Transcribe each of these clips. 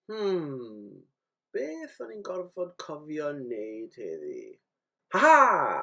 Hmm, beth o'n i'n gorfod cofio wneud heddi? Haha!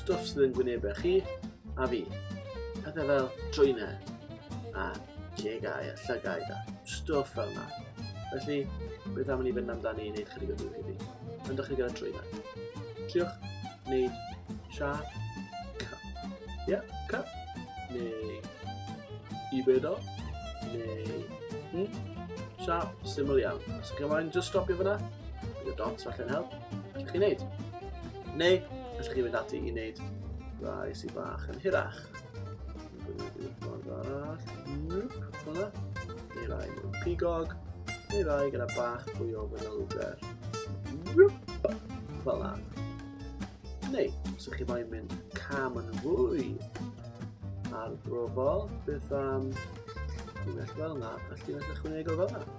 stwff sydd yn gwynebau chi a fi. Pethau fel trwynau a cegau a llygau a stwff fel yna. Felly, beth am i ni fynd amdani i wneud chydig o dŵr heddi? Yn dechrau gyda trwynau. Triwch wneud siap cup. Ie, yeah, cup. Neu i bedo. Neu... Hmm? Siap, syml iawn. Os ydych chi'n just stopio fyna, bydd y dots falle'n help. Allwch chi'n neud. Neu, allwch chi fynd ati i wneud rai sy'n bach yn hirach. Neu rai mewn pigog, neu rai gyda bach fwy o fynylder. Fel na. Neu, os ydych chi moyn mynd cam yn fwy ar brofol, beth am unell fel yna, a llinell ychwanegol fel yna.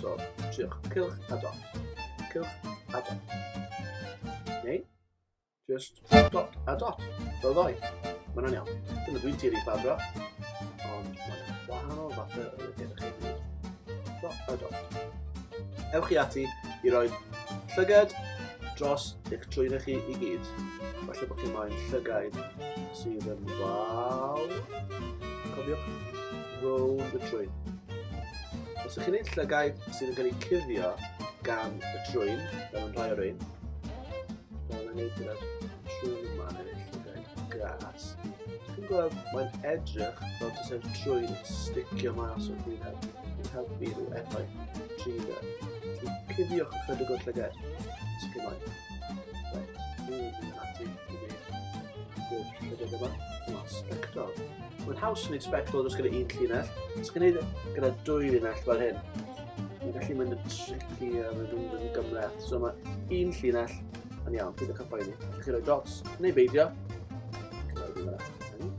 So, triwch cylch a dot. Cylch a dot. Neu, just dot a dot. Fel ddoi. Mae hwnna'n iawn. Dyna dwi'n tiri ffabro. Ond mae'n wahanol fath o lygaid chi. Dot a dot. Ewch chi ati i roi llygad dros eich trwyddau chi i gyd. Falle bod chi moyn llygaid sydd yn waw. Cofiwch roll y trwy. Os ydych chi'n ein llygaid sydd yn cael eu cuddio gan y trwyn, fel yn rhai o'r ein, fel yn ei gyda'r trwyn yma yn ei llygaid gras, chi'n gweld mae'n edrych fel ti sef trwyn yn sticio mas o'r gwyneb yn helpu i'w effaith trwy'r Cuddiwch ychydig o'r llygad, sicrhau. Mae'n haws yn gwneud sbectol dros gyda un llinell. Os gwneud gyda dwy llinell fel hyn, mae'n gallu mynd yn tricky a mae'n mynd yn gymreth. So mae un llinell yn iawn, bydd y cyffa i ni. Felly chi roi dots, neu beidio. Roi ddim yna.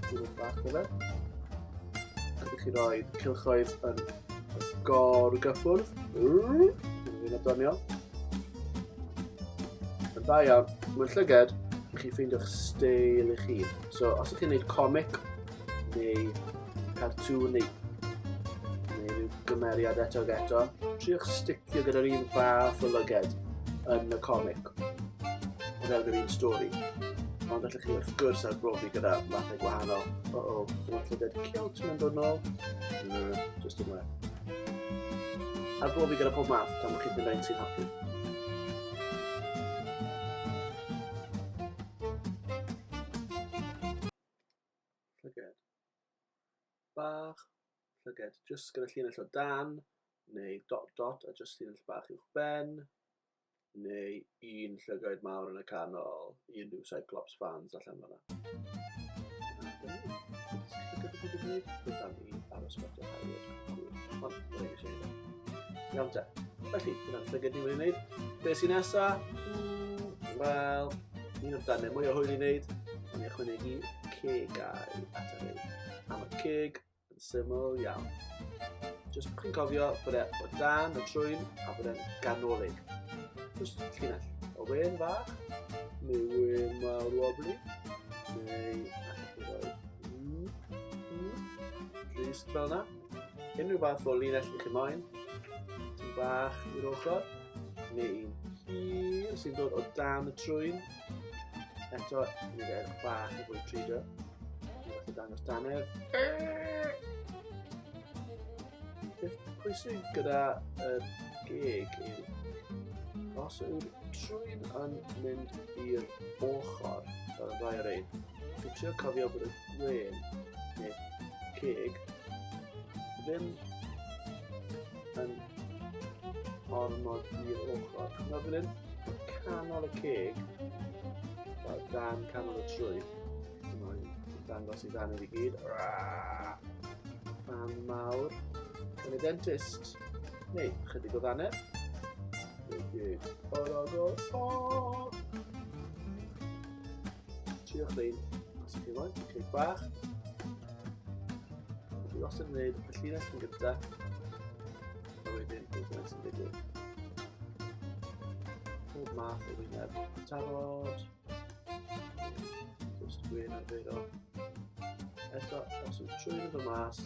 Dwi'n bach o fe. Rydych chi roi cilchoedd yn gor gyffwrdd. Dwi'n doniol. Yn dda iawn. Mae'n llyged, i chi ffeindio'ch steil eich hun. So, os ydych chi'n gwneud comic, neu cartŵn, neu, neu rhyw gymeriad eto ag eto, triwch sticio gyda'r un fath o lyged yn y comic, o fewn yr un stori. Ond allwch chi wrth gwrs ar brofi gyda mathau gwahanol. O, o, dyma llyged ciwt, mae'n dod nôl. Mm, just yn well. Ar bob i gyda pob math, gan bod chi'n mynd ein sy'n hapus. bach, llyged jyst gyda llinell o dan, neu dot dot a jyst llinell bach uwch ben, neu un llygaid mawr yn y canol i unrhyw Cyclops fans allan fanna. Iawn te. Felly, dyna'r llygad ni'n mynd i wneud. Be sy'n nesa? Wel, un o'r darnau mwy o hwyl i wneud, ond i ychwanegu cegau at y rhaid. Am y ceg, yn syml iawn. Jyst bod chi'n cofio bod e o dan y trwyn a bod e'n ganolig. Jyst llinell o wen fach, neu wen mawr wobli, neu allwch chi roi drist fel yna. Unrhyw fath o linell ydych chi moyn, sy'n bach i'r ochr, neu un hir sy'n dod o dan y trwyn, Eto, ni fe erch bach i fwy trido. Dwi'n fath o dangos danedd. Beth pwysig gyda y geg yw os yw'r trwyn yn mynd i'r ochr fel y rhaid ein, dwi'n trio cofio bod y gwen neu ceg ddim yn ormod i'r ochr. Nawr fan hyn, canol y ceg, fel dan canol y trwy, mae'n dangos i dan i gyd. Fan mawr, yn y dentist, neu chydig o ddanedd. O'r ogol, o! Trio chlein, os ydych chi moyn, cig bach. Dwi wastad yn gwneud y llinell yn gyda. A wedyn, dwi'n gwneud sy'n digwydd. Pob math o wyneb. Tafod. Just gwyn arferol. Eto, os yw'n trwy'n fy mas,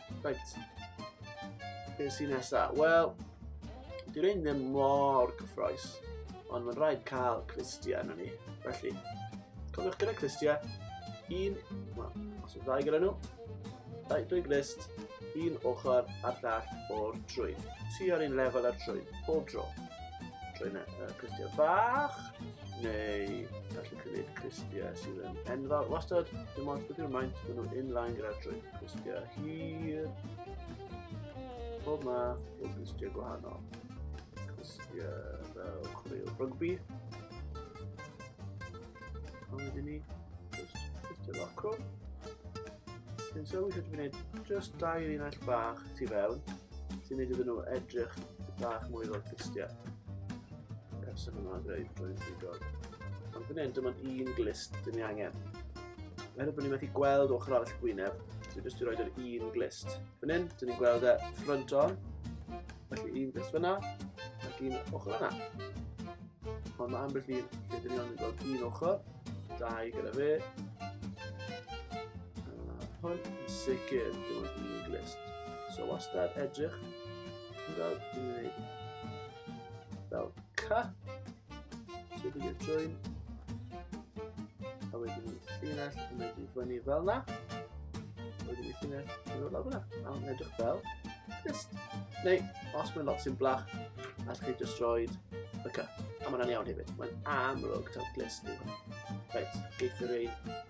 Reit. Be sy'n nesa? Wel, dwi'n ein ddim mor cyffroes, ond mae'n rhaid cael clistiau yna ni. Felly, cofiwch gyda clistiau, un, wel, os yw'n ddau gyda nhw, dau, dwy glist, un ochr ar ddall o'r drwy. Ti ar un lefel ar drwy, bob dro. Drwy yna, uh, clistiau bach, neu gallu cynnig cristiau sydd yn enfawr wastad, dim ond bydd yw'r maint, maen nhw'n inline gyda drwy'n cristiau hir, pob ma, pob cristiau gwahanol, cristiau fel chwaraewr rygbi, ond wedyn ni, cristiau locro, Dwi'n sylwi sut dwi'n gwneud just dau linell bach tu fewn sy'n gwneud iddyn nhw edrych bach mwy fel cristiau. Person yma yn dweud drwy'n ffigol. Ond fan hyn, dim ond un glist dyn ni angen. Meddwl bod ni'n methu gweld ochr arall gwyneb, so jyst i roed yr un glist. Fan hyn, dyn ni'n gweld e ffrant on, felly un glist fyna, ac un ochr yna. Ond mae ambell un lle dyn ni ond yn gweld un ochr, dau gyda fe. Hwn, sicr, dim ond un glist. So wastad edrych, yn gweld, dyn ni'n gwneud fel ca. So dwi'n gwneud join. A wedyn ni'n llinell yn mynd i fyny fel na. Wedyn ni'n llinell yn mynd fel na. A mae'n edrych fel. Just. Neu, os mae'n lot sy'n blach, allwch chi just roed y ca. A mae'n iawn hefyd. Mae'n amlwg taw glist yw hwn. Reit, geith yr ein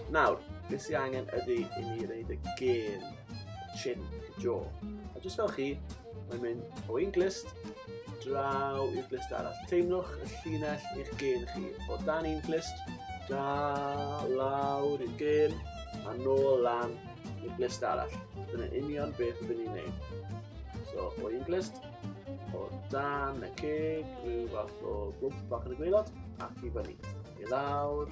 Nawr, beth sy'n angen ydy i ni reid y gêm chin jo. A jyst fel chi, mae'n mynd o un glist draw i'r glist arall. Teimlwch y llinell i'ch gêm chi. O dan un glist, da, lawr i'r gêm, a nôl lan i'r glist arall. Dyna union beth ydyn ni'n neud. So, o un glist, o dan y ceg, rhyw fath o gwmp bach yn y gweilod, ac i fyny. I lawr,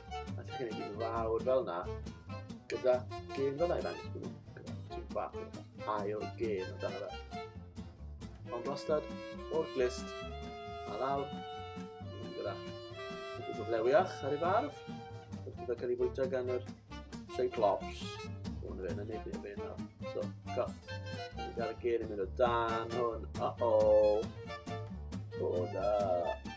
A ti'n gwneud i'n fawr fel na. Gyda gêm fel na i ddangos bod ti'n bach ail gêm yn dan fe. Ond wastad o'r glist a lawr. Gyda chydig o flewiach ar ei farf. Gyda cael ei fwyta gan yr Cyclops. Hwn fe, na nid i'n fe nawr. So, go. Dwi'n gael y gêm yn mynd o dan hwn. Uh-oh. O, da.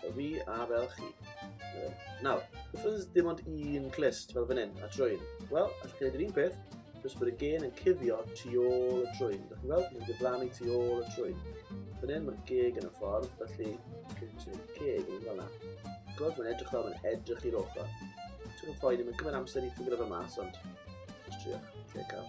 Fel fi a fel chi. Nawr, wrth oes dim ond un clust fel fan hyn, a trwyn. Wel, allwch chi wneud yr un peth, jyst bod y gen yn cuddio tu ôl y trwyn. Dych chi'n gweld? Mae'n diflannu tu ôl y trwyn. Fan hyn mae'r geg yn y ffordd, felly chi'n gwneud ceg yn fel yna. Gweld, mae'n edrych fel mae'n edrych i'r ochr. Ti'n gwneud ffoen, mae'n cymryd amser i ffigro fe mas, ond... Just trio, lle cael.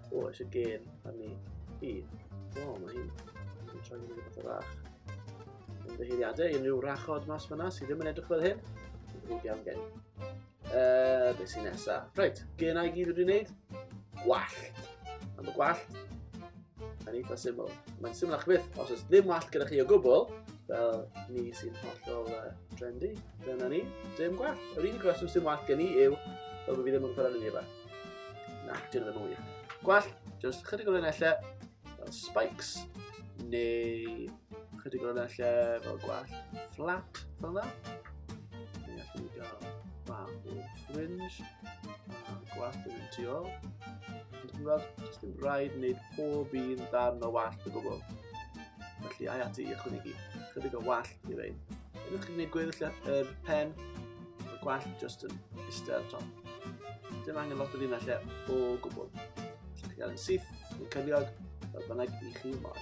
O, eisiau gêm arni i. O, mae hi'n yn troi mynd rhywbeth o rach. Yn ddeheiriadau, unrhyw rachod mas fyna sydd ddim yn edrych fel hyn. Yn ddrwg iawn gen. Uh, be sy'n nesa? Reit, gynau i gyd wedi wneud. Gwallt. Am y gwallt. Yn eitha syml. Mae'n syml a'ch byth, os oes ddim wallt gyda chi o gwbl, fel ni sy'n hollol uh, trendy, dyna ni, dim gwallt. Yr unig reswm sy'n wallt gen i yw, fel bod fi ddim yn gwybod yn ei Na, dyn ddim yn wir. Gwell, just chydig o linellau fel spikes, neu chydig o linellau fel gwell flat fel yna. Neu allwn ni gael bach o fringe, a gwell yn mynd tu ôl. Ond yn gweld, jyst ddim rhaid wneud pob un darn o wallt o gwbl. Felly, ai ati i ychwanegu chydig o wallt i rein. Ydych chi'n gwneud gweddill yr pen, y gwallt just yn eistedd ar top. Dim angen lot o ddyn lle o gwbl. Chi'n cael yn syth, yn cyliog, fel bynnag i chi moel.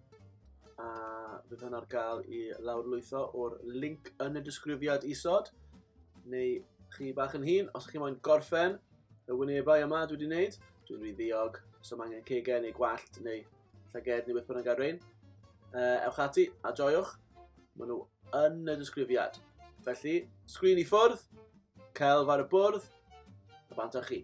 A bydd hwn ar gael i lawrlwytho o'r link yn y disgrifiad isod. Neu chi bach yn hun, os chi moyn gorffen y wynebau yma dwi wedi wneud, dwi'n rhy ddiog, so mae angen cegau neu gwallt neu llyged neu beth bynnag ar rein. Uh, ewch ati a joiwch, maen nhw yn y disgrifiad. Felly, sgrin i ffwrdd, celf ar y bwrdd, a bant â chi.